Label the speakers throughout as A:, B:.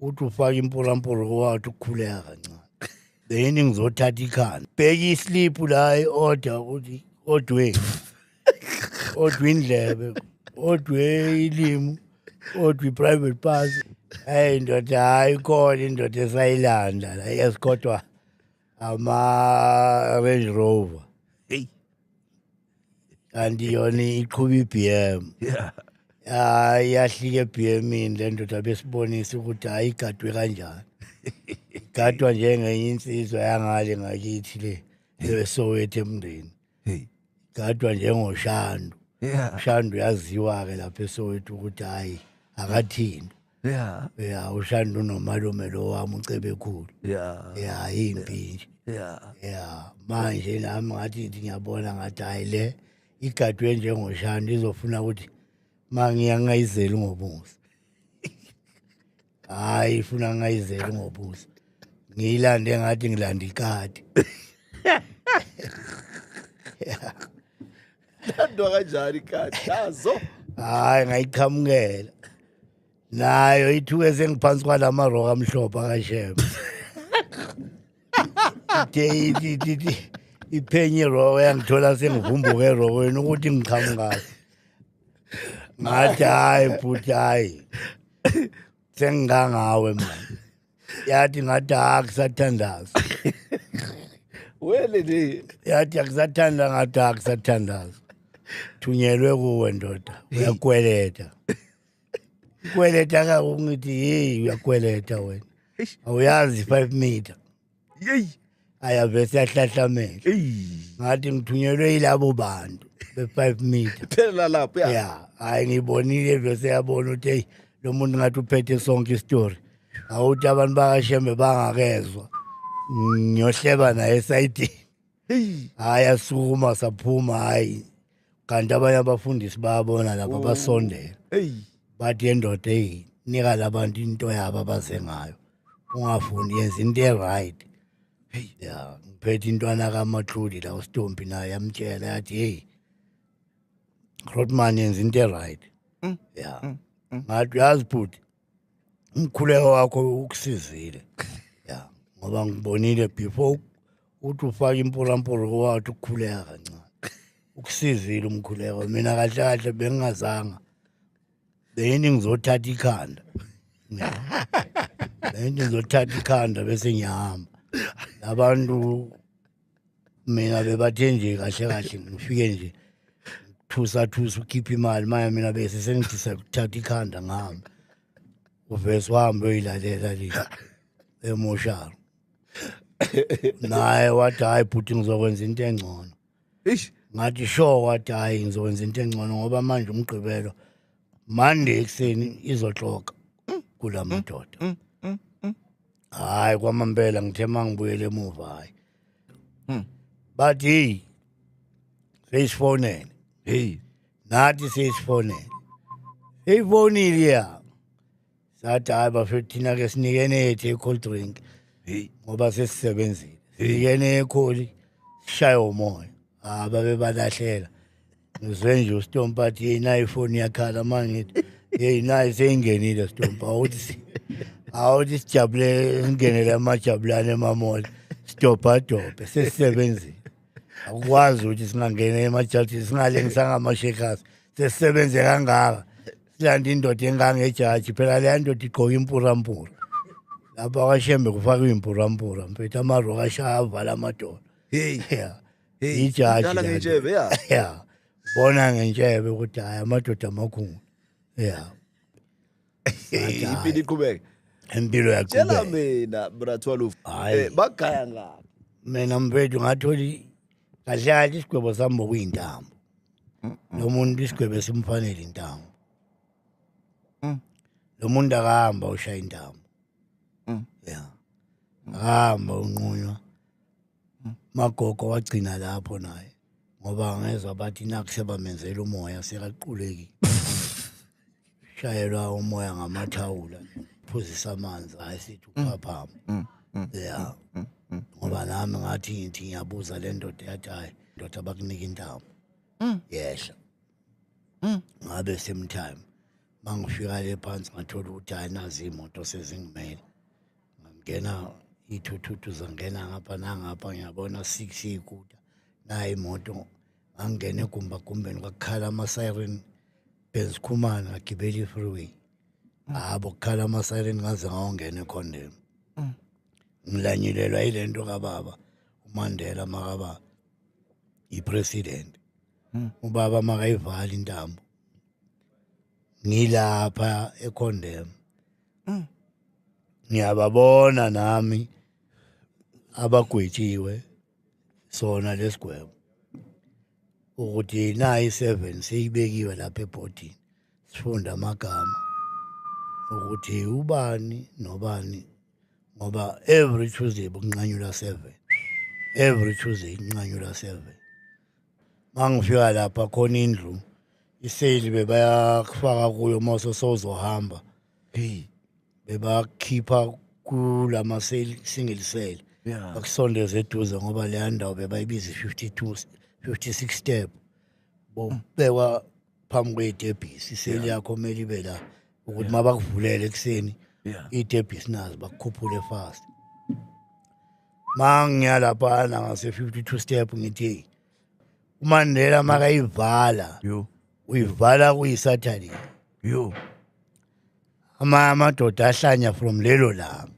A: uthi ufaka impolampolo wathi ukukhuleka kancane beyini ngizothatha ikhanda bheka isliphu la i-order ukuthi odwe odwe indlebe odwe ilimu odwe i-private pass hayi ndoda hayi khona indoda esayilanda la yes kodwa ama-range rover Hey. kanti yona iqhuba i-bm Yeah. ya yahlika ebhemini le ndoda besibonisa ukuthi hayi igadwe kanjani igadwa njengenye insizwa yangale ngakithi le esowethu emndeni Hey. igadwa njengoshandu Yeah. ushandu uyaziwa-ke lapha esowethu ukuthi hhayi akathintwa yeah yeah ushanda unomalume lo wami ucebekhulu yeah yeah impi nje yeah yeah manje nami ngathi ngithi ngiyabona ngathi hayi le igadwe njengoshanda izofuna ukuthi mangiya ngayizeli ngobuso hayi ifuna ngayizeli ngobuso ngiyilande ngathi ngilanda ikati
B: Thandwa kanjani kati yazo. Hayi
A: ngayiqhamukela. Nayo ithuke sengiphansi kwalama rock amhlophe akashema. Deyi iphenye rock yangithola sengivumbuke rock wena ukuthi ngiqhamukayo. Ngathi hayi bhuti hayi. Sengingangawe manje. yathi ngathi akusathandazi
B: wele ni yathi akusathanda
A: ngathi akusathandazi thunyelwe kuwe ndoda uyakweleta kweleta ka ungithi hey uyakweleta wena awuyazi 5 meter yeyi ayabe siyahlahlamela ngathi ngithunyelwe yilabo bantu be-five meter phelela lapho ya ya
B: hhayi
A: ngiyibonile vese yabona ukuthi eyi lo muntu ngathi uphethe sonke isitori awuthi abantu bakashembe bangakezwa ngiyohleba naye esayidini Hey. hayi asukuma saphuma hayi kanti abanye abafundisi bayabona laba basondela Hey. bathi yendoda eyi nika labantu into yabo abaze ngayo ungafundi yenza into e-right ya ngiphethe intwana kamatludi la ustompi naye yamtshela yathi heyi rotman yenza into e-right ya ngathi uyazi bhuti umkhuleko wakho ukusizile ya ngoba ngibonile before uthi ufake impolampolo wathi ukukhuleka kancane ukusizile umkhuleko mina kahle kahle bengingazanga beyini ngizothatha ikhanda beyini ngizothatha ikhanda bese ngiyahamba abantu mina bebathe nje kahle kahle ngifike nje thusa thusa ukhipha imali maya mina bese sengithi sakuthatha ikhanda ngihamba uvese wahambe uyilalela le emoshalo naye wathi hhayi bhuti ngizokwenza into engcono Eish. ngathi sure wathi hhayi ngizokwenza into engcono ngoba manje umgqibelo mande ekuseni izoxoka kula madoda hayi kwamambela ngithe uma ngibuyele emuva hayi Hmm. bathi heyi seyisifonele Hey. nathi seyisifonele seyifonile ya sathi hayi bafethu thina ke sinikene yethu i-cold drink Hey. ngoba sesisebenzile sinikene ekholi sishaye umoya ah babebalahleka ngizwe nje ustompa athi yeyi nayo ifoni yakhala ma ngithi yeyi nayo seyingenile stompa awuthi si- awuthi sijabule singenele amajabulane emamoli sidobhadobhe sesisebenzile akukwazi ukuthi singangena emajaji singalengisa ngamashekhazi sesisebenze kangaka silanda indoda engangejaji phela leya ndoda igqoka impurampura lapha kwashembe kufakwe impurampura mfethu amaroka ashaya avala amadola heyi Hey, Ijaji idlala lento. ngentshebe, yeah.
B: Yeah.
A: Bona ngentshebe ukuthi hayi amadoda amakhulu. Yeah. Ngathi,
B: impilo hhayi, iqhubeke Impilo tshela
A: yaqhubeka. mina brathwalufu
B: Hhayi. eh, bagaya
A: ngaphi
B: Mina mfethu
A: ngatholi kahle kahle isigwebo sami bokuyintambo. Lo muntu isigwebo simfanele intambo. Mm. Lo muntu akahamba ushaya intambo. Mm. Yeah. Akahamba unqunywa magogo wagcina lapho naye ngoba ngezwa bathi nakushe bamenzela umoya sekaqulekile shayelwa umoya ngamathawula phuzisa amanzi hayi sithi mm. uphaphama mm, mm, ya ngoba nami ngathi ngithi ngiyabuza le ndoda yathi hayi ndoda bakunika intamo yehla ngabe same time mangifika le phansi ngathola ukuthi ayinazi imoto sezingimele ngangena iy'thuthuthu zangena ngapha nangapha ngiyabona six iy'kuta nayo imoto ngangena egumbagumbeni kwakukhala ama-siren benzikhumana ngagibela i-freeway habo kukhala ama-siren ngaze ngawongena ekhondem mm. ngilanyulelwa yile nto kababa umandela makaba yi-president mm. ubaba makayivali intambo ngilapha ekhondem ngiyababona nami abagwetshiwe sona lesigwebo ukuthi nayi 7 seyibekiwe lapha ebhodini sifunda amagama ukuthi ubani nobani ngoba every Tuesday bunqanyula 7 every Tuesday inqanyula 7 mangifika lapha khona indlu iseli bebayakufaka kuyo uma sosozohamba hey bebakhipha kulama seli single cell bakusondeza eduze ngoba leya ndawo bebayibiza 52 56 step bobekwa phambi kwey'tebhisi iseli yakho kumele ibe la ukuthi uma bakuvulele ekuseni Yeah. iy'tebhisi nazo bakukhuphule fast ma ngiyalaphana ngase-52 step ngithi "Hey, umandela makayivala Yo. uyivala kuyisathane Yo. ama amadoda ahlanya from lelo langa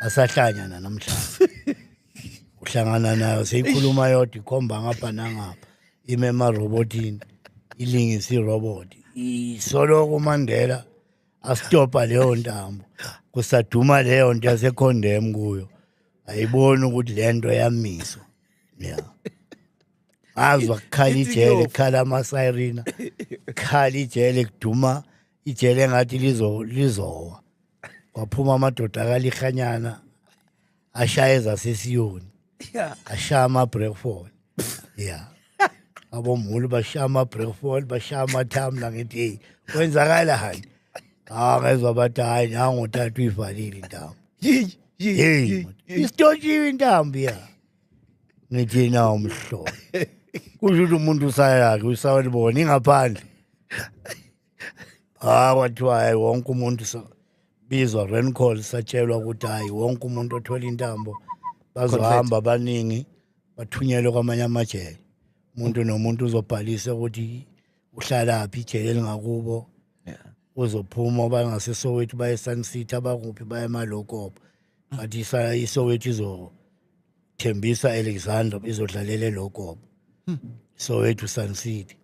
A: asahlanya nanamhlanje uhlangana nayo seyikhuluma yodwa ikhomba ngapha nangapha ime emarobotini ilingisa iroboti isoloko umandela asitopa leyo ntambo kusaduma leyo nto yasekhondem kuyo ayiboni ukuthi le nto yamiswa ya azwa kukhala ijele kukhala amasirina kukhala ijele kuduma ijele engathi lizo lizowa kwaphuma amadoda akalihanyana ashaya ezasesiyoni ashaya ama-breakfall ya abomhulu bashaya ama-breakfall bashaya amathamla ngithi eyi kwenzakala hani hawu ngezwa bathi hhayi nangothatha uyivalile intambo yeyi isitoshiwe intambo ya ngithi na umhlobo kusho ukuthi umuntu usayakhe usawelibona ingaphandle ha kwathiwa hayi wonke umuntu so- bizwa ren call satshelwa ukuthi hayi wonke umuntu othola intambo bazohamba abaningi bathunyelwe kwamanye amajele umuntu nomuntu uzobhalisa ukuthi uhlalaphi ijele elingakubo uzophuma bangasesowethu baye sun city abakuphi baye emalokopo but isa- isowethu izothembisa alexander izodlalela elokopo sowethu sun city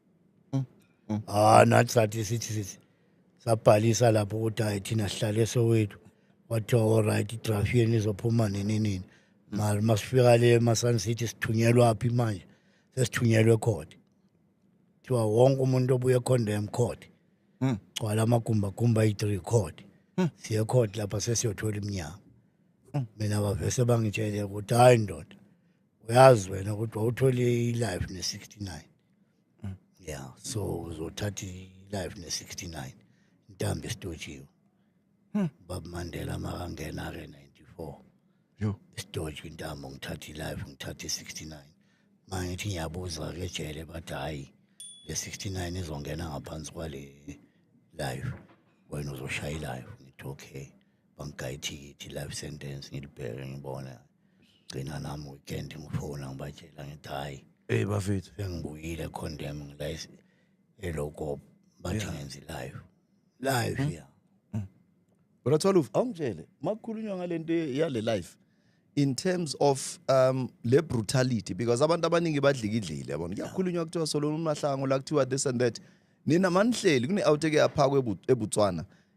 A: Mm. Ah nathi sathi sithi sithi sabhalisa lapho ukuthi hayi thina sihlale sowethu wathiwa all right i-draft yenu izophuma nini nini mali masifika le emasani sithi sithunyelwa phi manje sesithunyelwe ekhodi kuthiwa wonke umuntu obuye econdem court hmm. gcwala amagumbagumba ayi-three court hmm. siye court lapha sesiyothola iminyama hmm. mina bavese bangitshele ukuthi hhayi ndoda uyazi wena ukuthi wawuthole i-life ne-sixty-nine yeah so uzothatha i-life ne-69 intambo esitojiwe hmm. bab mandela makangena-ke 94 yo isitoji intambo ngithatha i-life ngithatha i-69 manje ngithi ngiyabuza-ke ejele bathi hhayi le 69 izongena ngaphansi kwale life wena uzoshaya ilife ngithi okay bangigaya ithikithi life sentence ngilibheke ngibona gcina nami weekend ngifona ngibatshela ngithi hhayi ey bafethu
B: sengibuyile
A: condemn ngila eloko bathi ngenzi live live ya mm. kodwa
B: thola uve awungitshele uma kukhulunywa ngale nto yale life in terms of um le brutality because abantu abaningi badlikidlile yabona kuyakhulunywa kuthiwa solona umahlango la kuthiwa this and that nina manihleli kune-out eke yaphakwa ebutswana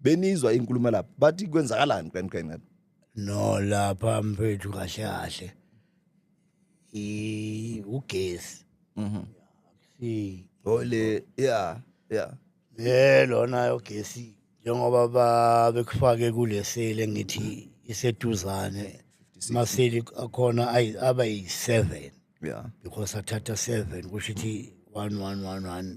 B: benizwa inkulumo lapha bathi kwenzakalani qeniqeni no
A: lapha mfethu kahle kahle i ugesi mhm si ole
B: yeah yeah eh
A: lona yogesi njengoba babekufake kulesele ngithi iseduzane maseli akhona aba yi-7 yeah because athatha 7 kusho ukuthi 1111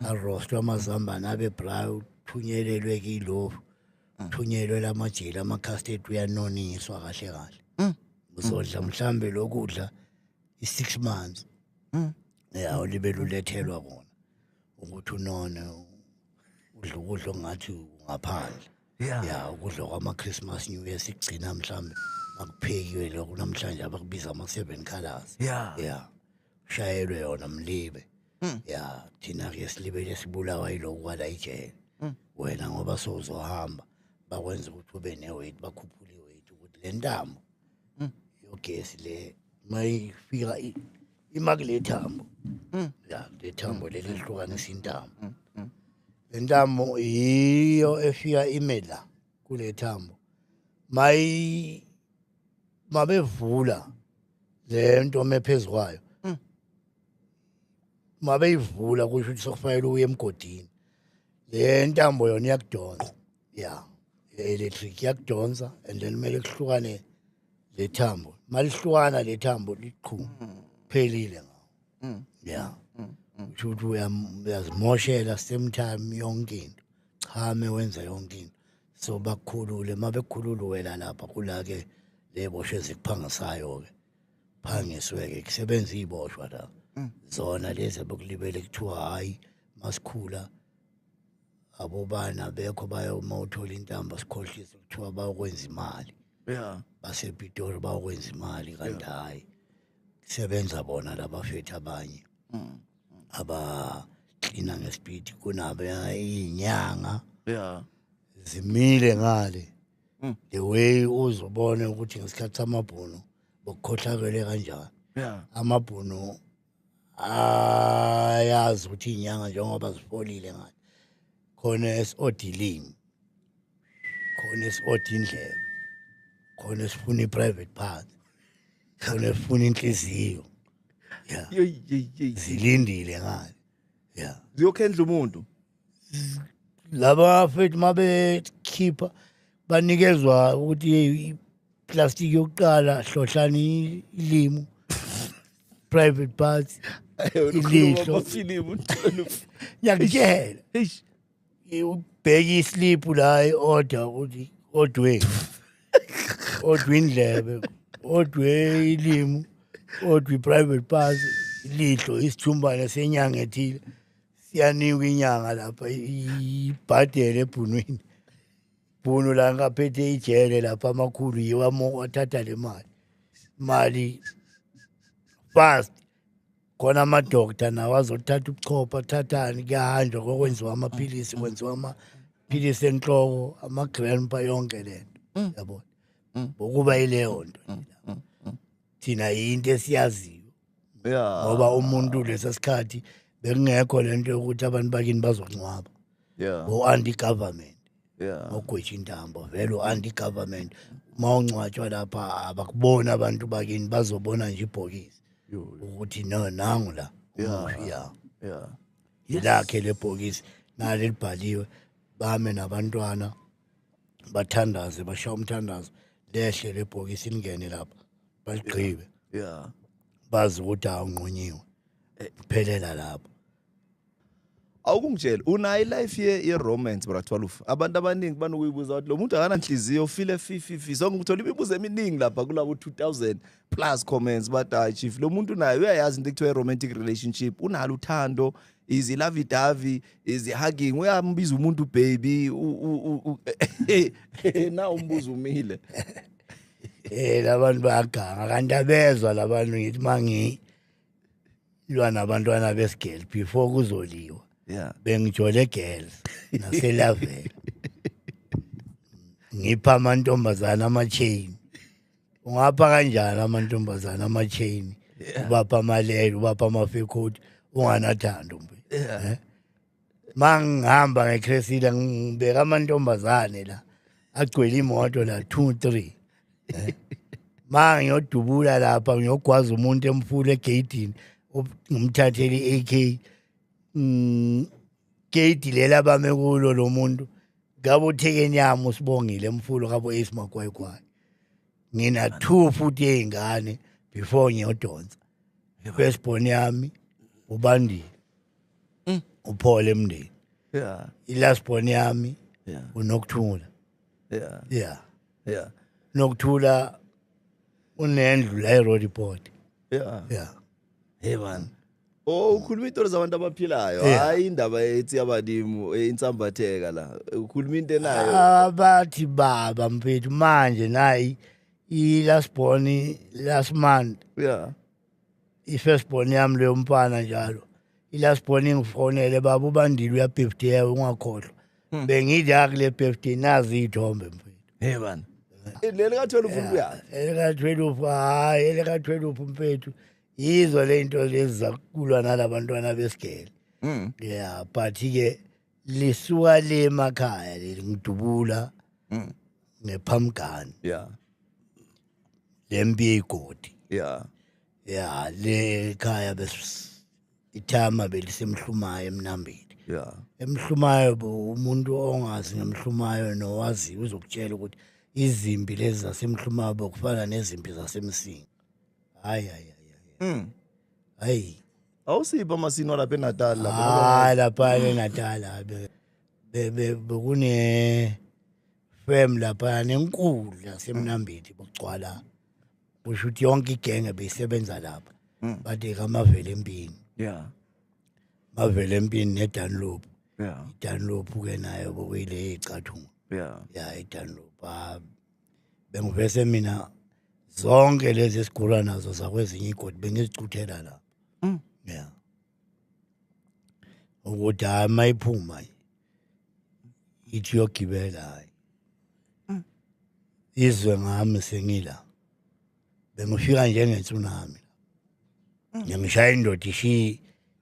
A: arostwa amazambane abe brown thunyelelwe kilofu mm. thunyelwe lamajele ama-castate uyanoniswa kahle kahle mm. uzodla mhlawumbe lokudla i-six months mm. ya ulibe lulethelwa kona ukuthi unone udla ukudla ongathi ungaphandle ya ukudla kwama-christmas new year sikugcina mhlawumbe akuphekiwe lokho namhlanje abakubiza ama-seven colors ya shayelwe yona mlibe Mm. ya thina ke silibele sibulawa yiloku kwala ijele Mm. wena ngoba sowuzohamba bakwenza ukuthi ube ne-weight bakhuphule i-weight ukuthi le ntambo Mm. yogesi le uma ifika i- ima kule thambo Mm. ya le thambo leli lihlukanisa intambo Mm, mm. le ntambo yiyo efika ime la kule thambo mayi mabevula le nto mephezu kwayo mabeyivula kusho ukuthi sokufanele uye emgodini le ntambo yona iyakudonsa ya electric iyakudonsa and then kumele kuhlukane le thambo malihlukana le thambo liqhu phelile ngawo mm. ya mm, mm. kusho ukuthi uyazimoshela same time yonke into chame wenza yonke into so bakukhulule uma bekukhulula wena lapha kula-ke ley'bosho ezikuphangisayo-ke phangisweke kusebenza iziboshwa la mm. zona lezi abakulibele kuthiwa hayi masikhula abobana bekho bayoma uthola intambo sikhohlisa kuthiwa bayokwenza imali yeah basepitori bayokwenza imali kanti hayi kusebenza bona labafethu abanye mm. aba clean ngespeed kunabo inyanga yeah zimile ngale Mm. the way uzobone ukuthi ngesikhathi samabhunu bokukhohlakele kanjani yeah amabhunu ayazi ukuthi inyanga njengoba zifolile ngathi khona esiodilini khona esiodi indlela khona esifuna i-private part khona esifuna inhliziyo ya zilindile ngani ya ziyokhendla
B: umuntu laba
A: fethu uma bekhipha banikezwa ukuthi yeyi iplastiki yokuqala hlohlani ilimu private part ilihlo ngiyakutshela ubheke isliphu la i-order ukuthi odwe odwe indlebe odwe ilimu odwe i-private part ilihlo isithumbane senyanga ethile siyanikwa inyanga lapha ibhadele ebhunwini bhunu la ngaphethe ijele lapha amakhulu yiwo athatha le mali mali fast khona amadokta nawo azothatha ubuchopha athathani kuyahanjwa kokwenziwa amaphilisi kwenziwa amaphilisi enhloko ama-grandpa yonke le nto mm. yabona mm. ukuba yileyo nto mm, thina yinto esiyaziyo yeah ngoba umuntu lesa sikhathi bekungekho lento yokuthi abantu bakini bazongcwaba yeah go anti government yeah ogwetshi intambo vele anti government mawungcwatshwa lapha abakubona abantu bakini bazobona nje ibhokisi ukuthi no nangu la yeah yeah yeah yilakhe lebhokisi nale libhaliwe bame nabantwana bathandaze bashawa umthandazo lehle lebhokisi lingene lapha baligqibe yeah bazi ukuthi awunqunyiwe eh. phelela lapho
B: awukungitshela unayo ilife ye ye-romance bratwaluf abantu abaningi banokuyibuza ukuthi lo muntu akananhliziyo ufile fififi so ngithola imibuzo eminingi lapha kulabo 2000 plus comments but hayi chief lo muntu naye uyayazi into ekuthiwa i-romantic relationship unalo uthando is lovey dovey is hugging uyambiza umuntu baby na umbuzo umile
A: Eh labantu bayaganga kanti abezwa labantu ngithi mangi lwa nabantwana besigel before kuzoliwa. Yeah. Bengijole
B: girls
A: naselavela. Ngipha amantombazana ama chain. Ungapha kanjani amantombazana ama chain? Ubapha amalele, ubapha amafekhoti, unganathando mbe. Yeah. Eh? mangihamba ngecresida ngibeka amantombazane la agcwele imoto la two three eh? ma ngiyodubula lapha ngiyogwaza umuntu emfula egeyidini ngimthathele i-a k mm, geyidi lela bame kulo lo muntu ngabe uthekeni yami usibongile emfulo kabo ace magwayigwayi ngina two futhi ey'ngane before ngiyodonsa first born yami ubandile Mm. Uphole emndeni. Yeah.
B: Ilast born yami.
A: Yeah. Unokuthula. Yeah.
B: Yeah.
A: Yeah. Nokuthula unendlu la eRoad Report. Yeah.
B: Yeah. Hey man. Oh ukhuluma into zabantu abaphilayo hayi indaba ethi abadimu eh, insambatheka la ukhuluma into enayo abathi
A: baba mfethu manje nayi i last born last month yeah
B: i-first
A: born yami leyo mfana njalo i-last born ingifonele baba ubandile uyabhiftiyewe ungakhohlwa hmm. bengidla kule birthday nazi iy'thombe mfethu hey bana
B: eh, leli ka-twelve ukuyaphi elika-twelve
A: hhayi elika-twelve mfethu yizo le nto lezi zakulwa nalabantwana besigele hmm. ya but-ke lisuka le emakhaya leli ngidubula Mm. ngephamgani yeah lempi yegodi yeah
B: ya le
A: khaya bes ithama belisemhlumayo emnambeni yeah
B: emhlumayo bo
A: umuntu ongazi ngemhlumayo nowazi uzokutshela ukuthi izimpi lezi zasemhlumayo bokufana nezimpi zasemsinga hayi hayi hayi, hayi mm. hayi awusiphi
B: amasini walapha enatal lapha hayi lapha
A: enatal bekune fem lapha nenkulu lasemnambithi bokugcwala kusho ukuthi yonke igenge beyisebenza lapha hmm. bathi kamavele empini yeah
B: mavele
A: empini nedanloop yeah idanloop
B: ke
A: nayo bokuyile icathunga yeah yeah idanloop ah, bengivese mina zonke lezi esigula nazo zakwezinye igodi bengizicuthela la mm. yeah ukuthi hayi mayiphuma ithi yogibela hayi mm. izwe ngami sengila bengifika njengetsunami ngiyangishaya mm. indoda ishiye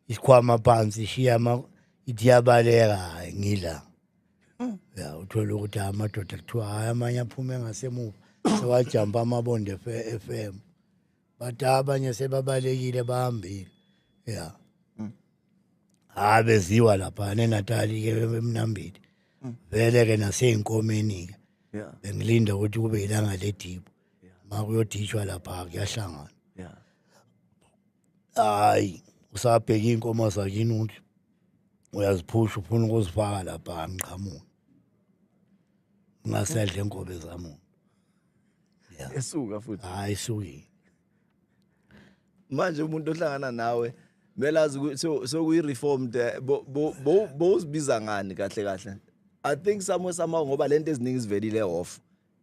A: isikhwama phansi ishiye ama ithi yabaleka hayi ngila mm. ya uthole ukuthi hayi amadoda kuthiwa hayi amanye aphume ngasemuva sewajampa amabonde f m but abanye sebabalekile bahambile ya mm. hayi beziwa lapha nenatali-ke emnambili vele-ke nasey'nkomeni-ke bengilinda ukuthi kube yilanga ledibo makuyoditshwa lapha kuyahlangana yeah hayi usabheka inkomo zakini uthi uyaziphusha ufuna ukuzifaka lapha ngiqhamuka ngasedle inkobe zamu yeah
B: esuka futhi hayi suki manje umuntu ohlangana nawe kumele azi sokuyi-reformed eh, bowuzibiza ngani kahle kahle i think somewhere somehow ngoba lento eziningi zivelile off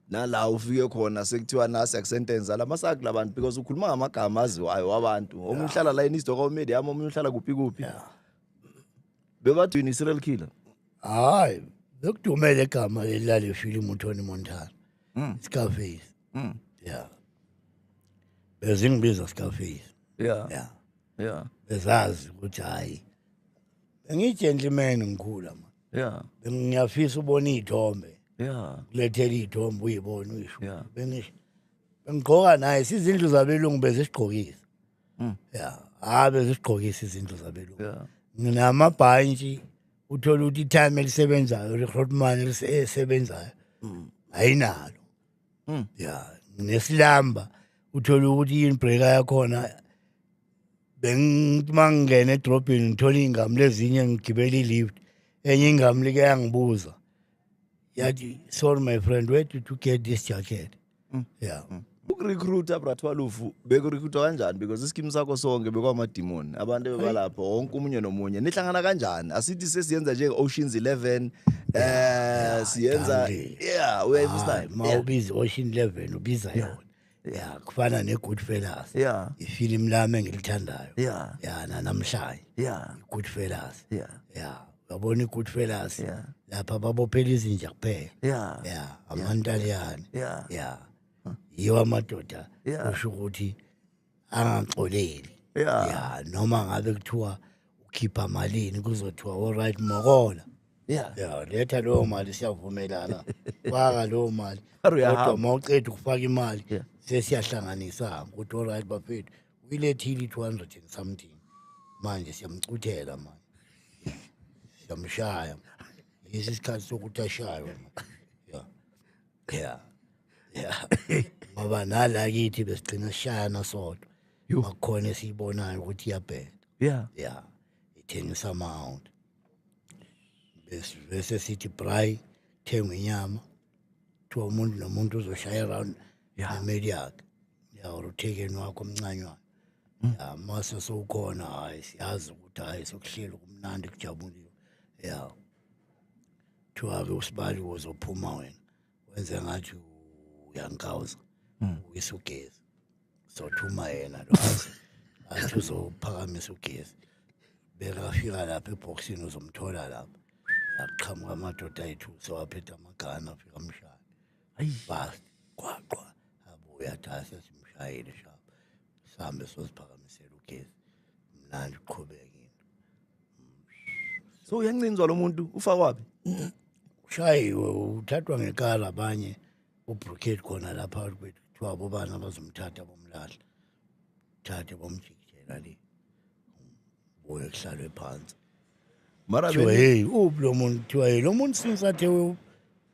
B: nala ufike khona sekuthiwa nasi akusentence ala masakhe labantu because ukhuluma ngamagama aziwayo wabantu omunye uhlala la in istoka media yami omunye uhlala kuphi kuphi Yeah. bebathi yini serial killer hayi
A: bekudumele igama leli lale filimu utony montana Mm. scarface Mm. ya bezingibiza scarface yeah
B: ya yeah bezazi
A: ukuthi hhayi bengiyigentleman ngikhula ma yeah ngiyafisa ubona iy'thombe yeah kulethela iy'thombe uyibone uyisho yeah bengisho bengigqoka naye sizindlu zabelungu bezisigqokisa mm. ya hayi bezisigqokisa izindlu zabelungu yeah. nginamabhantshi uthole ukuthi itime elisebenzayo lihrotman elisebenzayo mm. ayinalo Mm. ya nesilamba uthole ukuthi yini breaker yakhona bengithi uma ngingena edrobheni ngithole iy'ngami lezinye ngigibele i-lift enye ingami like yangibuza yathi sorry my friend where did you get this jacket Mm. ya ukurecruita
B: brathwalufu bekurikhrutwa kanjani because isikimu sakho sonke bekwamadimoni abantu ebebalapho wonke omunye nomunye nihlangana kanjani asithi sesiyenza njenge-oceans 11 um siyenza Dankie. yeah we understand ma yeah. ubiza i-ocean
A: eleven ubiza yona ya kufana ne-good fellas yeah ifilimu
B: lami
A: engilithandayo yeah ya
B: nanamhlanje
A: yeah i-good
B: fellas yeah
A: ya
B: uyabona
A: i-good fellas Yeah. lapha
B: babophela
A: izinja kuphela yeah ya amantaliyane yeah ya yiwa amadoda usho ukuthi angaxoleli ya
B: noma ngabe
A: kuthiwa ukhipha malini kuzothiwa all right mokola ya
B: letha leyo
A: mali siyavumelana faka leyo mali kodwa uma
B: uceda ukufaka
A: imali sesiyahlanganisa ukuthi all right bafethu uyilethile i-two hundred and something manje siyamcuthela manje siyamshaya yisi isikhathi sokuthi ashaywe ya yeah yeah ngoba nala kithi besigcina sishayana sodwa Yo. akukhona esiyibonayo ukuthi iyabheda yeah yeah ithengisa amount bese bese sithi bray thenga inyama kuthiwa umuntu nomuntu uzoshaya around Yeah. nemeli yakhe yawur uthekeni wakho omncanywana Mm. ya mase sowukhona hhayi siyazi ukuthi hhayi sokuhleli kumnandi kujabuliwe ya kuthiwa-ke usibali uzophuma wena wenze ngathi uyangikawuza hmm. uyisa ugezi sothuma yena lo athi uzophakamisa ugezi bekafika lapha ebhokisini uzomthola lapha yaqhamuka amadoda ayithu sewaphetha amagana afika amshaya bust qwaqwa abuya athi hayi sesimshayile shap sihambe sosiphakamisela ugesi mnandi uqhubeke into
B: so uyancinzwa lo muntu ufa kwaphi
A: ushayiwe uthathwa ngekala abanye ubrukade khona la phakathi kwethu kuthiwa bobani abazomthatha bomlahla thathe bomjikijela le buye kuhlalwe phansi mara
B: kuthiwa heyi
A: uphi lo muntu kuthiwa heyi lo muntu since athe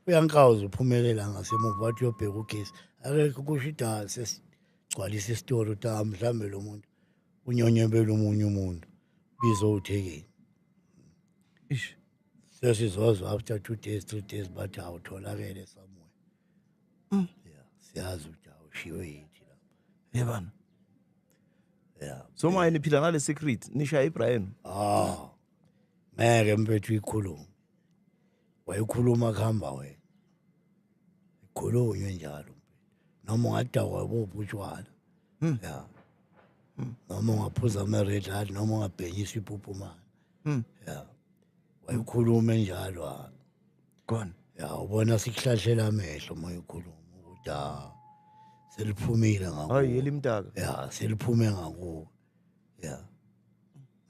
A: uyankawuza uphumelela ngasemuva wathi uyobheka ugesi akekho kusho ida sesigcwalisa isitolo ta ah, mhlawumbe lo muntu unyonyebela omunye umuntu bizo uthekeni
B: ish
A: sesizozwa after two days three days bathi awutholakele somewhere mm. yeah siyazi ukuthi awushiwe yithi la yebana yeah so manje niphila
B: ngale secret nisha ibrahim ah
A: ngeke mfethu ikhulumo wayekhuluma kuhamba wena ikhulunywe njalo noma ungadakwa buphi utshwala hmm. ya hmm. noma ungaphuza ama-red light noma ungabhenyisa iphupumana hmm. ya wayekhulume njalo khona
B: ya ubona
A: sikuhlahlela amehlo uma uyikhuluma ukuthi ha seliphumile ngakuwo hayi elimtaka ya
B: seliphume
A: ngakuwo ya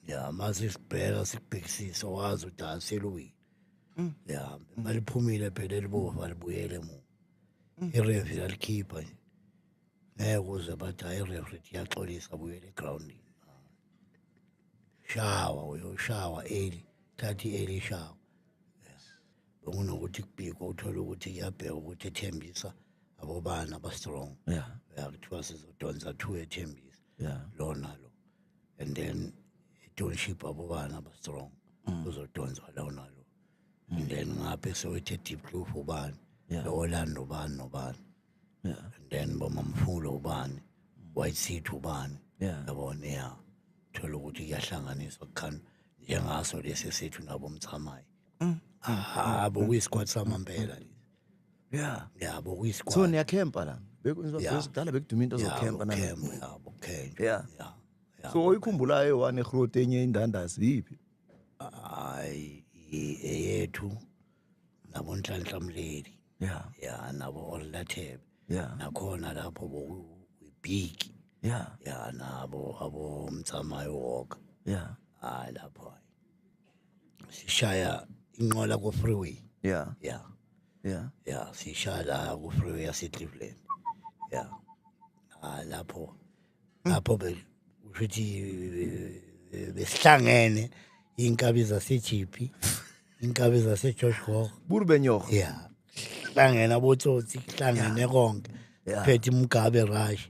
A: ya mase sibheka sikubhekisisa wazi ukuthi aseluwini mm. ya maliphumile phela elibovu alibuyele emuva mm. irefi lalikhipha nje ngeke uze bathi hayi irefri iyaxolisa abuyele egroundini shawa uyoshawa eli thathi eli shawa bekunokuthi kubhikwa uthole ukuthi kuyabheka ukuthi ethembisa abobani abastrong ya kuthiwa sizodonsa two ethembisa yeah. lona lo and then tonship abobana abastrong mm. uzodonsa lona lo and then ngaphe sewethe deep blue ubani yeah. lowolando ubani nobani yeah. and then bomamfulo ubani white seat ubani yeah. yabona ya thola ukuthi kuyahlanganiswa kukhani njengaso lesi sethu nabo mthamayi mm. ahabo kuyisikwati samampela lesi yeah yabo kuyi squad so niya camp la
B: bekwenziwa yeah. kudala bekuduma into yeah, zokhempa na camp yabo camp
A: yeah
B: yeah, yeah so oyikhumbulayo one road enye indandazi yiphi hayi
A: eyethu nabo nhlanhla mleli yeah yeah nabo olathebe yeah nakhona lapho boku big yeah yeah nabo abo mtsamayo walk yeah hayi lapho sishaya inqola ku freeway yeah yeah yeah yeah sishaya la ku freeway yase Cleveland yeah ah lapho hmm. lapho be ukuthi eh, besihlangene inkabi zasejipi inkabi zasegeorge gok burbenyoh ya hlangene abotsotsi hlangene konke phethe umgabe rush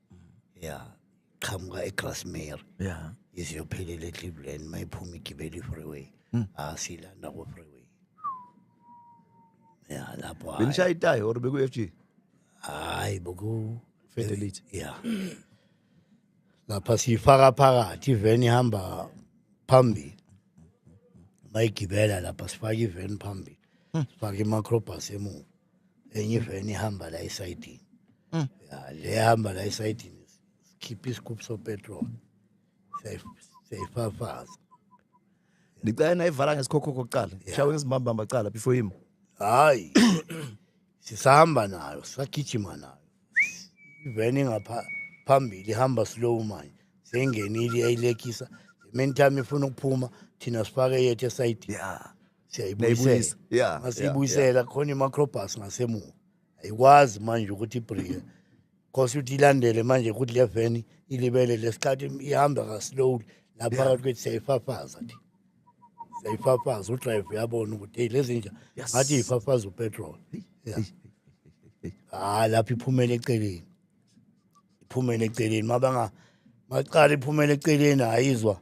A: ya qhamuka egrasmary ya ize
C: yophelela
A: ecleveland uma iphuma igibela i-freeway hmm. asilanda ah, ko-freeway ya lapho benishaya itayi or beku-f
B: g hayi
A: boku fedelite ya lapha siyifaka phakathi iveni ihamba phambili bayigibela lapha sifake iveni phambili hmm. sifake imacrobus emuva enye iveni ihamba la esayidini Mm. Ya, le ihamba la esayidini sikhipha isigubhu sopetrol Siyayi- siyayifafaza
B: Ngicela nayivala ngesikhokho kokuqala. Shawe ngezimbambamba kuqala before him. hayi
A: sisahamba nayo sisagijima nayo iveni ngapha phambili ihamba slow manje seyingenile yayilekisa meantime ifuna ukuphuma thina sifake yethu esayidini Yeah.
C: siyayibuyisela Nayibuyisa.
A: Yeah, Uma
B: siyibuyisela khona
A: i-macrobus ngasemuva ayikwazi manje ukuthi ibhrike cause ukuthi ilandele manje ukuthi le veni ilibele lesikhathi ihamba kaslowly naphakathi kwethi siyayifafaza thi siyayifafaza udrive uyabona ukuthi eyi lezi nja Yes. ngathi yifafaza upetrol Yeah. hayi lapho iphumele eceleni iphumele eceleni mabanga maqala iphumele eceleni ayizwa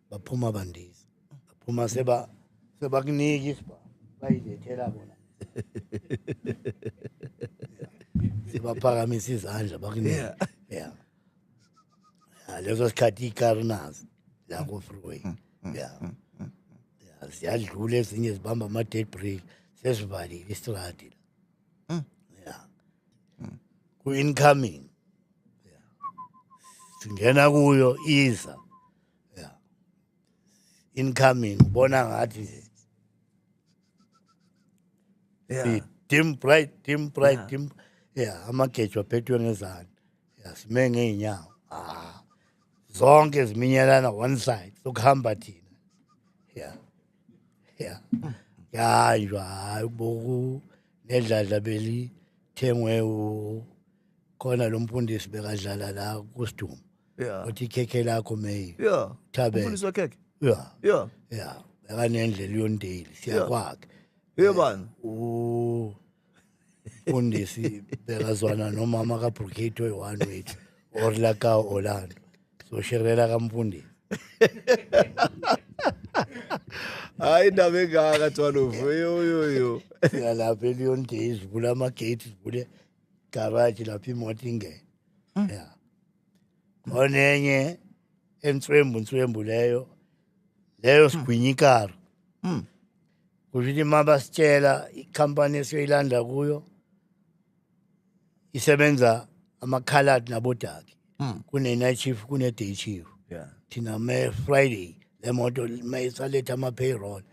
A: baphuma bandiza baphuma seba sebakunika isiba bayilethela bona sebaphakamisa izandla bakunika yeah leso sikhathi ikari nazi la kufreeway mm, mm, yeah mm, ziyadlula ezinye zibamba ama-dead break sesivalile istradi la hmm. ya ku-incoming singena kuyo iza yeah incoming ubona ngathi nje yeah dim bright dim bright yeah. dim yeah amagejo aphethwe ngezani yeah sime ngeenyawo ah zonke ziminyelana one side sokuhamba thina yeah yeah yanjwa hayi uboku nedladla beli thengwe u khona lo mfundisi bekadlala la kusiduma yeah uthi ikhekhe lakho may yeah thabe umfundisi wekhekhe
B: yeah yeah
A: yeah akanendlela yondeli siyakwakhe yeah bani
B: u
A: undisi bekazwana nomama ka Brigade oyi-one wethu or la ka Orlando so shirela ka mfundisi
B: hayi indaba engaka twalovu yoyoyo siyalapha
A: eliyondei sivule amagate sivule garaji lapho imoto ingene Hmm. ya onenye entswembu nswembu leyo leyo hmm. sigwinyikaro hmm. kusho ukuthi uma basitshela ikhampani esiyoyilanda kuyo isebenza amakhaladi nabodaki kune-night chief kune-day chief thina me-friday le moto mayisaletha ama-payroll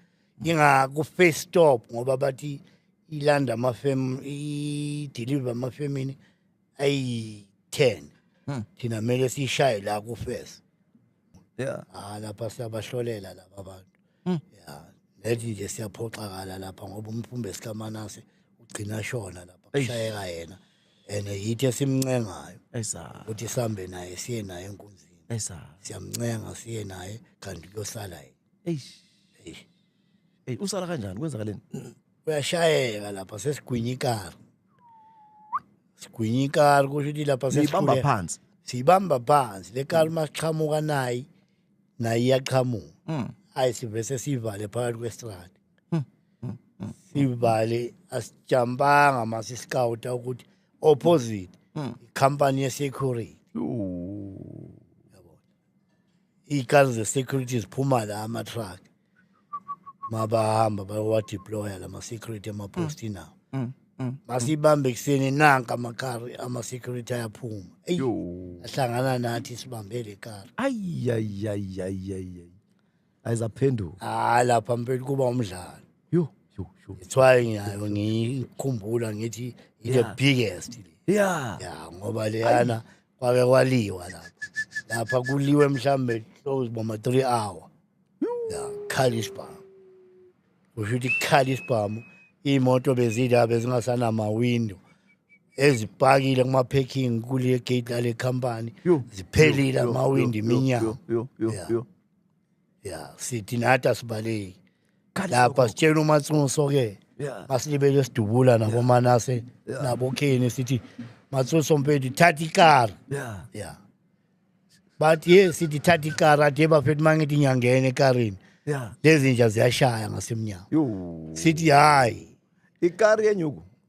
A: ingaku-face stop ngoba bathi ilanda amafem ideliver amafemini ayi 10 Hmm. thina kumele sishaye la ku first yeah ah lapha siyabahlolela laba bantu Hmm. yeah nethi nje siyaphoxakala lapha ngoba umphumbe sikamanase ugcina shona lapha Eish. kushayeka yena and yithe simncengayo esa ukuthi sihambe naye siye naye enkunzini esa siyamncenga siye naye kanti kuyosala yena eish eish hey
B: usala kanjani kwenzakaleni uyashayeka
A: lapha sesigwinya ikari sigwinya ikari kusho ukuthi lapha sesibamba phansi siyibamba phansi le kari uma siqhamuka nayi naye iyaqhamuka hmm. hayi sivese sivale phakathi kwestrade hmm. hmm. sivale asijampanga uma sisikawuta ukuthi opposite ikhampani yesecurity iy'kali ze-security ziphuma la ama-truck mabahamba bayowadeploya la ma-security emaposti nawo Mm, mm. masibambe ekuseni nanka amakari ama-security ayaphuma eyi Yo. ahlangana
B: nathi
A: sibambe le kari Ay, ay, ay, ay,
B: ay, ay. ayizaphenduka hayi ah, lapha mpela
A: kuba umdlalo yo yo
B: yo it's why
A: ngiyayo ngikhumbula ngithi the biggest
B: yeah
A: yeah
B: ngoba leyana
A: kwake kwaliwa lapha lapha kuliwe mhlambe close boma 3 hour yeah khali isibhamu usho ukuthi khali isibhamu iy'moto bezila bezingasanamawindo ezipakile kuma-packing kule gate lale company ziphelile amawindi iminyango ya sithi nathi asibaleki lapha sitshela umatsuso ke Yeah. masilibele sidubula nabomanase Yeah. nabokheni sithi matsuso mpethu thatha ikara Yeah. ya but ye sithi thatha ikara athe bafethu uma ngithi ngiyangena ekarini Yeah. lezi nja ziyashaya ngasemnyango Yo. sithi hhayi Ikari
B: yenyuku.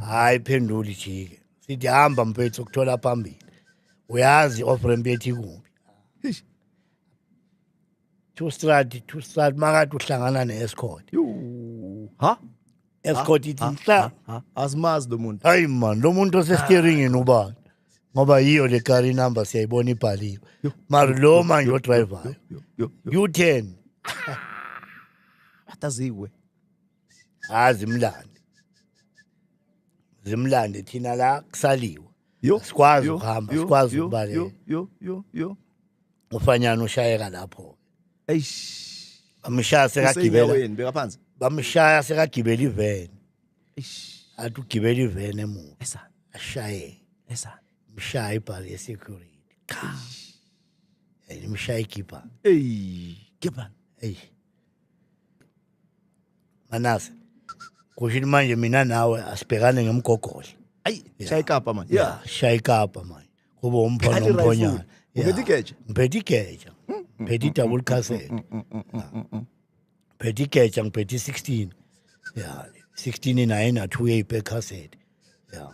A: hayi phenduli jike sithi hamba mfethu ukuthola phambili uyazi off ramp yethi kumbi two strad two strad makade uhlangana ne-escort ha escort ithi nhla azimazi
B: lo muntu hayi man lo muntu
A: osesteeringini ubani ngoba yiyo le kari inumber siyayibona ibhaliwe mari lo manje odrivayo u-ten
B: ataziwe ha zimlande
A: zimlande thina la kusaliwe Yo, Sikwazi yo, ukuhamba, yo, sikwazi yo, ukubaleka. yo, yo, yo, yo. ufanyana ushayeka lapho Eish. bamshaya sekagibela Usenyaweni, beka phansi.
B: bamshaya
A: sekagibela iveni Eish. athi ugibela iveni emuva Esa, ashaye esa. mshaya ibhali yesecurity cha and imshaya igibha Ey,
B: Gibbon. eyi
A: Manase. Kusho ukuthi manje mina nawe asibhekane ngemgogodla. Ayi, shaya ikapa
B: manje. Yeah, shaya ikapa
A: manje. Kube umphona umphonyana. Ngiphethe igeja.
B: Ngiphethe igeja.
A: Ngiphethe double cassette. Ngiphethe igeja ngiphethe 16. Yeah, 16 ina ina 2 yepe cassette. Yeah.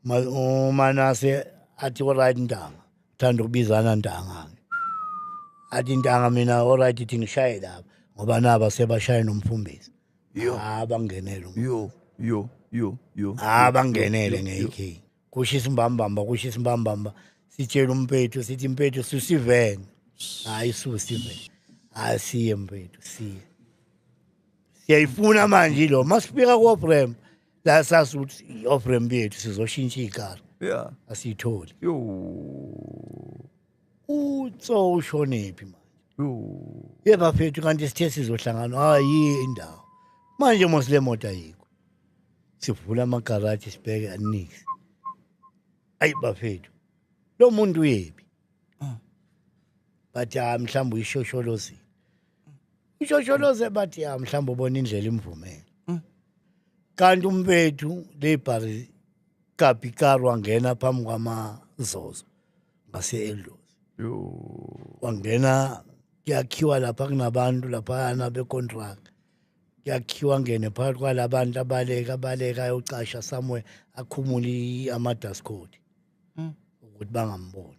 A: umanase athi oright ntanga thanda ukubizana ntanga athi ntanga mina oright ithi ngishaye lapha ngoba naba sebashaye nomfumbisi ha bangenele yo yo yo yo ha bangenele nge-k kusho isimbambamba kusho isimbambamba sitshela umpethu sithi mpethu susivene hayi susivene hayi siye mpethu siye siyayifuna manje lo masifika kobrem la sazi ukuthi i-ofremp yethu sizoshintsha igalo yeah asiyitholi yo utso ushonephi manje yo ye bafethu kanti sithe sizohlangana hayi indawo manje mos le moto ayikho sivula amagaraji sibheke anix ayi bafethu lo muntu uyephi bathi hayi mhlawumbe uyishosholozile Ishosholoze bathi ya mhlawumbe ubona indlela imvumela. Mm. Kanti umbethu lebhari kabi karwa ngena phambi kwamazozo ngase elozi. Yo. Wangena kuyakhiwa lapha kunabantu lapha na be contract. Kuyakhiwa ngene phakathi kwalabantu abaleka abaleka ayocasha somewhere akhumuli ama dust coat. Mm. Ukuthi bangamboni.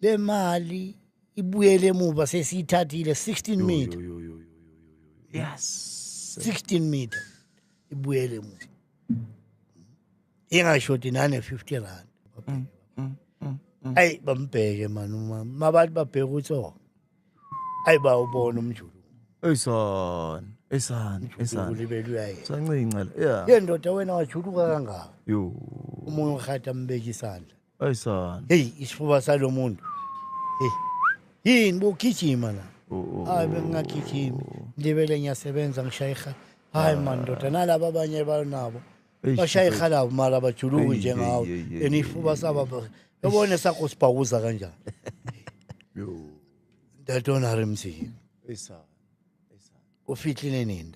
A: le mali ibuyele emuva sesiyithathile 16 meter yes 16 meter ibuyele emuva ingashodi nane 50 rand mm, mm, mm, ayi bambheke mani umama mabathi babheke ukuthi oh ayi bawubona umjulu eyisona esani esani ulibele
B: uyaye sancinca la yeah yendoda wena wajuluka
A: kangaka yo umoya urhata mbeka isandla Ay sana. Hey isifuba salo muntu. Hey. Yini bukijima la. Oo. Hayi
B: bengingagijimi.
A: Ndibele ngiyasebenza ngishayiha. Hayi man ndoda nalabo abanye banabo. Eish, Bashayiha labo mali abajuluki Ei, njengawo. ei, ei, ei, Enifuba saba. Yabona sakho sibhawuza kanjani. Yo. Dadona remzi. Ay sana. Ufihlile nini?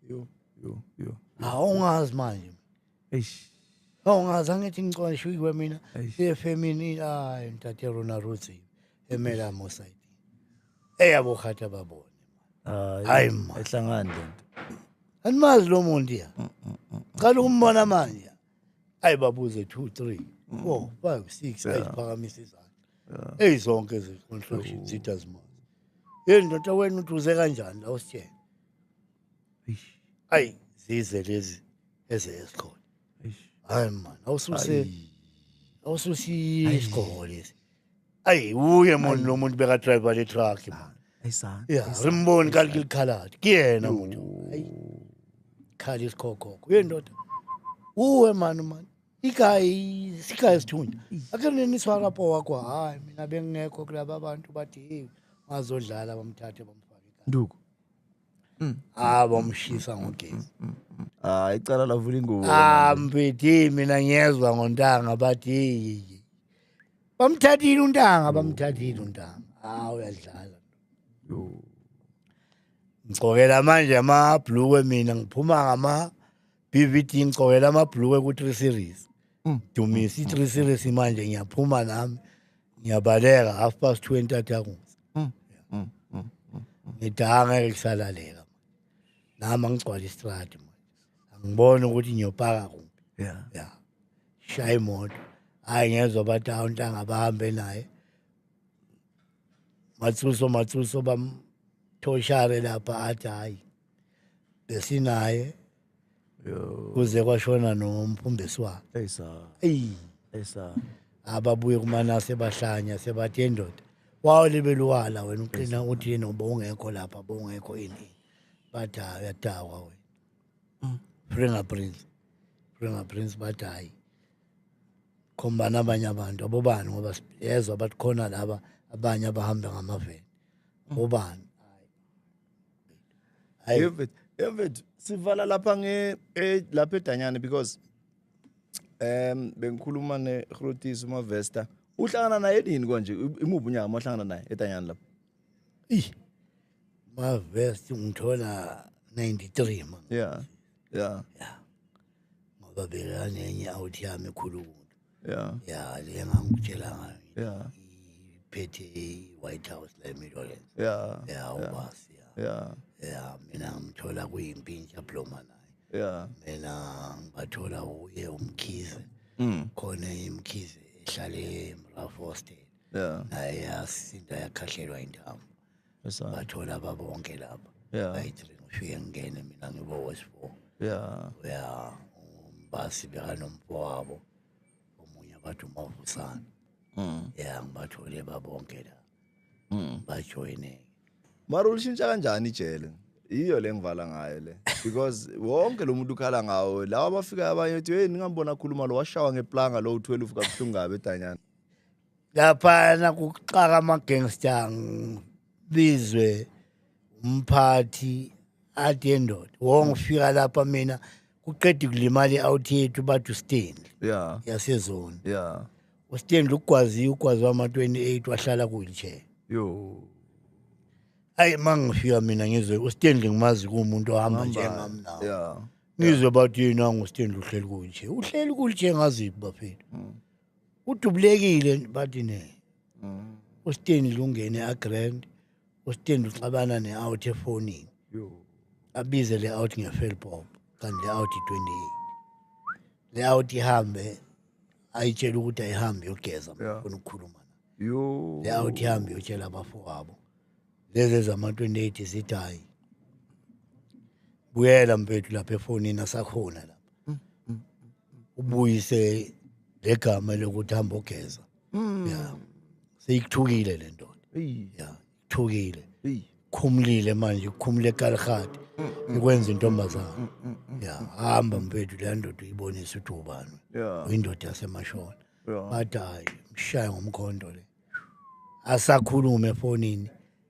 B: Yo, yo, yo.
A: Awungazi manje.
B: Eish. Awungazi
A: angithi ngicwala shuyi kwemina. Eish. Efemini ay ntate Rona Ruthi emela Mosayidi. Eyabo khatha babone. Hayi. Hayi ma. Ehlangani lento.
B: Animazi
A: lo muntu ya. Qala ukumbona manje. Ayi babuze 2 3 4 5 6 ayiphakamisa izandla. Ey zonke izinhlonhloshi zitha zimazi. Hey ndoda wena uduze kanjani la usitshela. ayi zize lezi eze esikhona hayi man awususe awususe isikhona lesi ayi uye moni lo muntu beka driver le truck man ayisana ya rimboni kanti likhalati kuyena muntu ayi khala isikhokhokho uyendoda uwe mani mani igayi sigayi sithunya akhe neniswarapo wakho hayi mina bengingekho kulaba bantu bathi hey mazodlala bamthathe bamfake nduku
B: ah
A: bamshisa ngogesi Ah icala
B: lavula ingubo. ah mfethi
A: mina ngiyezwa ngontanga bathi "Yiyi." bamthathile untanga bamthathile untanga ah uyadlala Yo. ngigcokela manje amabhlukwe mina ngiphuma ngama BVT ngigcokela amabhlukwe ku 3 series Mm. dumisa i 3 series manje ngiyaphuma nami ngiyabaleka half past two entathakusa mm, mm, mm, ngidanga ngeke kusalaleka nami angigcwala istradi manje angiboni ukuthi ngiyopaka kuphi ya ya shaya imoto hayi ngezwa bathi awu ntanga bahambe naye matsuso matsuso bamthoshare lapha athi hayi besinaye kuze kwashona nomphumbesi wakhe eyi sa eyi eyi sa ababuye kumanase bahlanya sebathi endoda wawo libeluwala wena uqina uthi yena ubowungekho lapha bowungekho ini bathi hayi uyadakwa wena mm. fingerprints fingerprints bathi hayi khombana abanye abantu abobani ngoba yezwa bathi khona laba abanye abahamba ngamaveni mm. bobani
B: Hayi. David, David, sivala lapha nge eh, lapha edanyane because um bengikhuluma ne Grotis uMavesta. Uhlangana naye nini konje? Imuphi unyaka mohlangana naye edanyane lapha? Ih.
A: Mavest ngithola 93 man. Yeah.
B: Yeah.
A: Ngoba bekanenye out yami ekhulu. ya ya le ngangikutshela ngayo ya
B: phethe
A: i-white house la emirolense ya ya ubasi ya ya ya mina ngimthola kuyimpintsha bloma naye ya mina ngibathola uye umkhize Mm. khona imkhize ehlale emrafostel ya naye yasinda yakhahlelwa intambo Esana. ngathola babonke laba Yeah. bayi-three ngifike ngingene mina ngibo-wesfour Yeah. ya umbasi bekanomfowabo omunye abathi umavusana Mm. ya ngibathole babonke la Mm. bajoyine Mara ulishintsha
B: kanjani ijele? Iyo le ngivala ngayo le. Because wonke lo muntu ukhala ngawo. Lawa abafika abanye uthi hey ningambona khuluma lo washawa ngeplanga lo u12 kabuhlungu kabi edanyana. laphana
A: kuxaka ama-gangster ngibizwe umphathi athi endoda wongifika lapha mina kuqeda ukulimala i-out yethu bathi ustanley ya yasezoni ya ustanley ugwaziwe ugwazi wama-28 wahlala kuyilchair yo ayi ma ngifika mina ngizwe ustanley ngimazi kuwumuntu ohamba njengami nawo ya ngizwe bathi yini angustanley uhleli kuyilchair uhleli kuyilchair ngaziphi bafethu udubulekile bathi ne mm. usteni lungene agrand usteni uxabana ne-out efonini abize le out ngefelpop kanti le out i-28 le out ihambe ayitshela ukuthi ayihambe yogeza mfuna ukukhuluma le out ihambe yotshela abafowabo lezi ezama-28 zithi hayi buyela mfethu lapha efonini asakhona lapha ubuyise legama lokuthi hamba ogeza mm. ya seyikuthukile le ndoda ya ithukile khumulile manje khumule kalihati mm, mm. ikwenza intombazana ya hamba mfethu le ndoda uyibonisa ukuthi ubani uyindoda yasemashona bathi hayi mshaye ngomkhondo le asakhulume efonini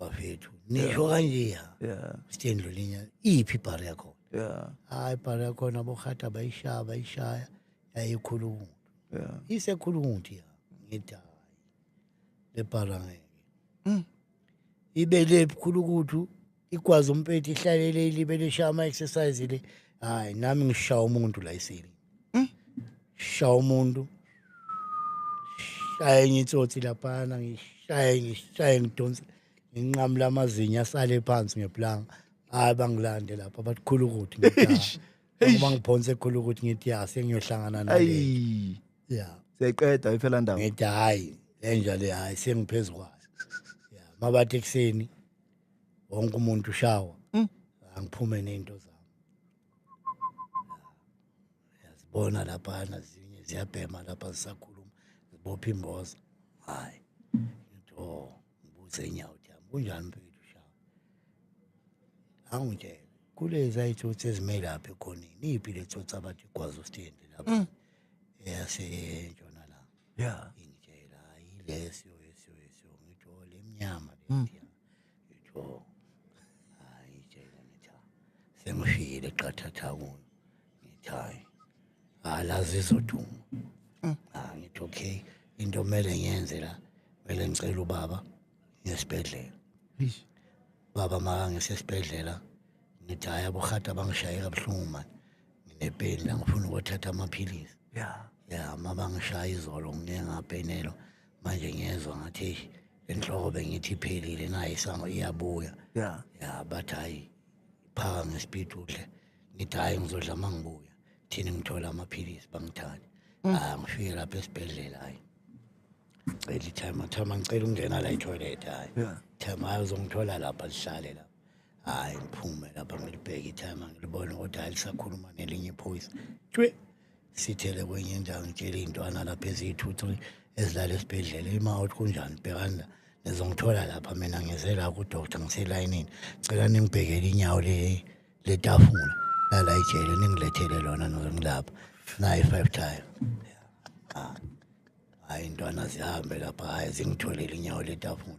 A: bafethu nisho kanje ya yeah sitendlo
B: linya
A: iphi ibhari yakho yeah hayi
B: ibhari yakho
A: nabohata bayishaya bayishaya yayikhulu umuntu yeah
B: isekhulu umuntu ya
A: ngithi hayi le bhara ngeke mm. ibe le khulu kuthu igwazi umpethu ihlalele ilibele ishaya ama-exercise le hhayi nami ngishaya umuntu la isili hmm? shaya umuntu shaya enye itsotsi laphana ngishaye ngishaye ngidonse nginqamula amazinyo asale phansi ngeplanga hhayi bangilande lapha bathi khulu ukuthi ngoba ngiphonse khulu ukuthi ngithi ya sengiyohlangana naye ya seqeda iphela
B: ndawo ngithi hhayi
A: lenja le hhayi sengiphezu kwayo ya mabathi ekuseni wonke umuntu ushawa Mm. angiphume nezinto zami yazibona lapha nazinye ziyabhema lapha zisakhuluma zibopha imboza hayi ngithi oh ngibuze inyawo ukuthi yami kunjani mfethu ushawa angitshele kulezi ayithutha ezimele lapha ekhoneni iyiphi le thutha abathi igwazi ositendi lapha eyasentshonalanga Yeah. Ingitshela
B: hayi
A: lesyo lesyo lesyo ngitho lemnyama Hmm. lethi. Ngitho hayi tshela ngitha. Sengishiyile qathatha kuyo. Ngithi hayi. Alazi izoduma. Hmm. Ah ngithi okay into mele ngiyenze la. Mele ngicela ubaba ngesibhedlela. Eish.
B: Baba
A: maka ngisesibhedlela. Ngithi hayi abohata bangishaye kabuhlungu manje. nginepeni la ngifuna ukothatha amaphilisi ya ya
B: uma bangishaya
A: izolo ngike ngapenelwa manje ngiyezwa ngathi eish enhloko bengithi iphelile nayo isango iyabuya ya ya
B: bathi
A: hhayi phaka ngespeed udle ngithi hhayi ngizodla uma ngibuya thina ngithola amaphilisi bangithande mm. ah ngifike lapha esibhedlela hhayi cela ithema thema ngicela ukungena la etoilet hhayi thema hhayi
B: uzongithola
A: lapha lihlale lapha hayi ngiphume lapha ngilibheke itime ngilibona ukuthi hayi lisakhuluma nelinye iphoyisa tshwe sithele kwenye indawo ngitshela iy'ntwana lapha eziyithuthu ezilala esibhedlela ima uthi kunjani bhekana ngizongithola lapha mina ngize la kudoctor ngiselayinini cela ningibhekele inyawo le letafula lala ijele ningilethele lona noze ngilapha nayi five time ah. hayi ntwana zihambe lapha hayi zingitholele inyawo letafula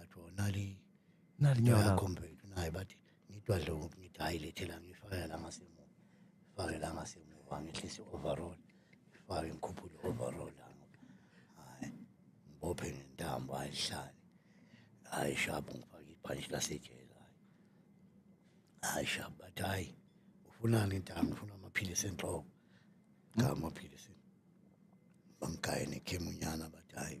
A: athiwa nali nali nyawo
B: lakho mfethu naye bathi
A: ngitwa dlo ngithi hayi lethela ngifake la ngasemuva fake la ngasemuva ngehlise overall fake ngikhuphule overall hayi ngibophe ngentambo ayihlale hayi shabu ngifake ibhanshi lasejela hayi shabu bathi hayi ufunani intambo ufuna amaphilisi enhloko cha amaphilisi bangigayene khemunyana bathi hayi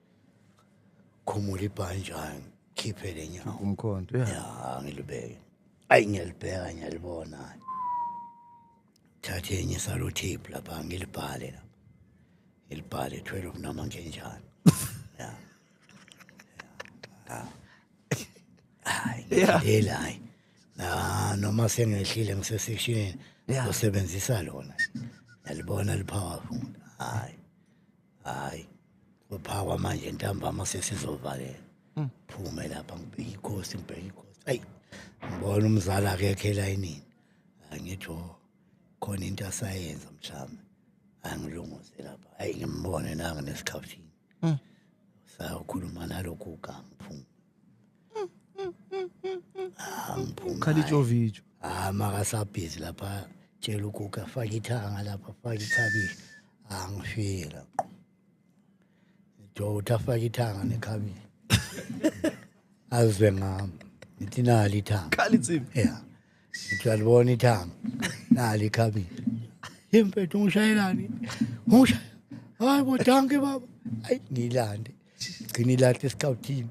A: khumula ibhantshi hayi ngikhiphe le nyawo umkhonto ya ya
B: ngilibeke
A: ayi ngiyalibheka ngiyalibona hayi thathe enye salutape lapha ngilibhale la ngilibhale 12 noma ngenjani ya ya hayi ngidela hayi Ah, noma sengehlile ngisesectionini Yeah. usebenzisa lona yalibona lipowerful hayi hayi kuphakwa manje ntambama sesizovalela hmm. phume lapha ngibheke ikhosi ngibheke ikhosi ayi ngibona umzali akekho elayinini angitho oh, khona into asayenza mhlawumbe angilunguze lapha ayi ngimbone nanga nesikhathini hmm. sayokhuluma nalokhu ugama phuma
B: khala ijovijo ah makasabhizi
A: lapha tshela ukuka faka ithanga lapha faka ikhabishi ah ngifike lapho jota faka ithanga nekhabishi azwe ngami ngithi nali ithanga khala insimbi yeah Ngiyalibona ithanga. Nali ikhabini. Impethu ngishayelani? Ngisha. Hayi bo danke baba. Ayi ngilande. Gcina ilahle escouthini.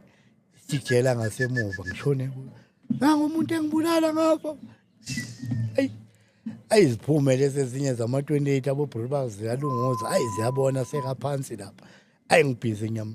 A: Sijela ngasemuva ngishone kuyo. Nangu umuntu engibulala ngapha. Ayi ayiziphume lezi ezinye zama-28 abobhulu bazo ziyalunguza ayi ziyabona sekaphansi lapha ayi ngibhizi nyama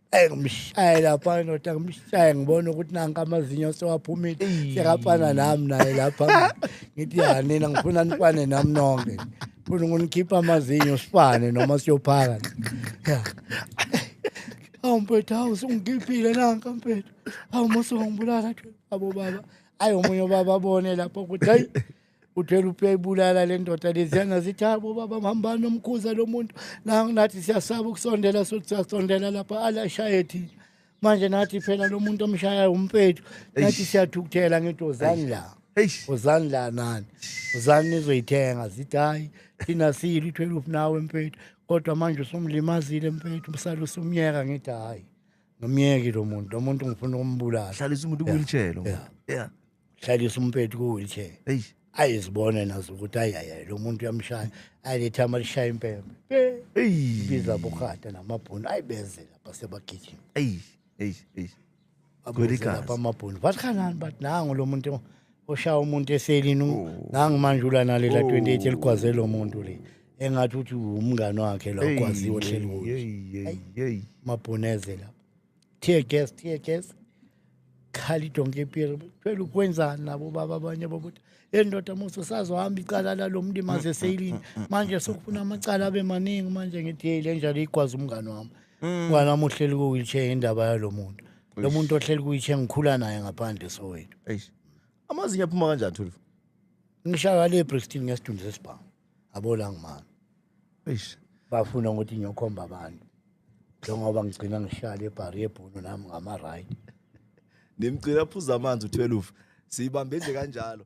A: Ey ngimshaye lapha indoda ngimshaye ngibona ukuthi nanka amazinyo sewaphumile sekafana nami naye lapha ngithi ya nina ngifuna nifane nami nonke funa ngonikhipha amazinyo sifane noma siyophaka ya awu mpethu awu sungikhiphile nanka mpethu awu mose wangibulala abo baba ayi omunye ubaba abone lapho ukuthi hayi uthwele upeyibulala le ndoda leziyana zithi habo baba mhambani nomkhuza lo muntu nathi siyasaba ukusondela sothi siyasondela lapha alashaye thina manje nathi phela lo muntu omshayayo umpethu nathi siyathukuthela ngithi ozani la ozani la nani ozani nizoyithenga zithi hhayi thina siyile i-twelve nawe mpethu kodwa manje usumlimazile mpethu msale usumyeka ngithi hhayi nomyeki lo muntu lo muntu ngifuna ukumbulala hlalisa umuntu kuyilitshelo
B: yeah. yeah.
A: hlalisa umpethu ku-wheelchair eyi ayizibone nazo ukuthi ayaya lo muntu uyamshaya ayilethe amalishaya impembe eyi ibiza bokhata namabhunu ayibeze lapha sebagijima eyi eyi eyi Kweli babeze lapha gazi. amabhunu bathi kanani bathi nangu lo muntu oshaya umuntu eselini u- nangu manje ulanalela 28 eligwaze lo muntu le engathi uthi umngane wakhe lo ogwaziwe ohleli kuyo eyi eyi eyi amabhunu eze lapha tear gas tear gas khali donke ipiri phela ukwenzani nabo baba abanye bokuthi endoda musa sazohamba icala lalo mntu imaze seyilini manje sokufuna amacala abe maningi manje ngithi yeyi le njalo igwazi umngane wami umngane wami uhleli ku-wheelchair indaba yalo muntu lo muntu ohleli ku-wheelchair ngikhula naye ngaphandle sowethu Eish. amazinyo
B: aphuma kanjani thulfu ngishaya
A: le brixton ngesidumbu sesibhamu abola ngimama eish bafuna ukuthi ngiyokhomba abantu njengoba ngigcina ngihlale ebhari yebhunu nami ngama-right
B: nimgcina aphuza
A: amanzi
B: u-12 siyibambe
A: nje
B: kanjalo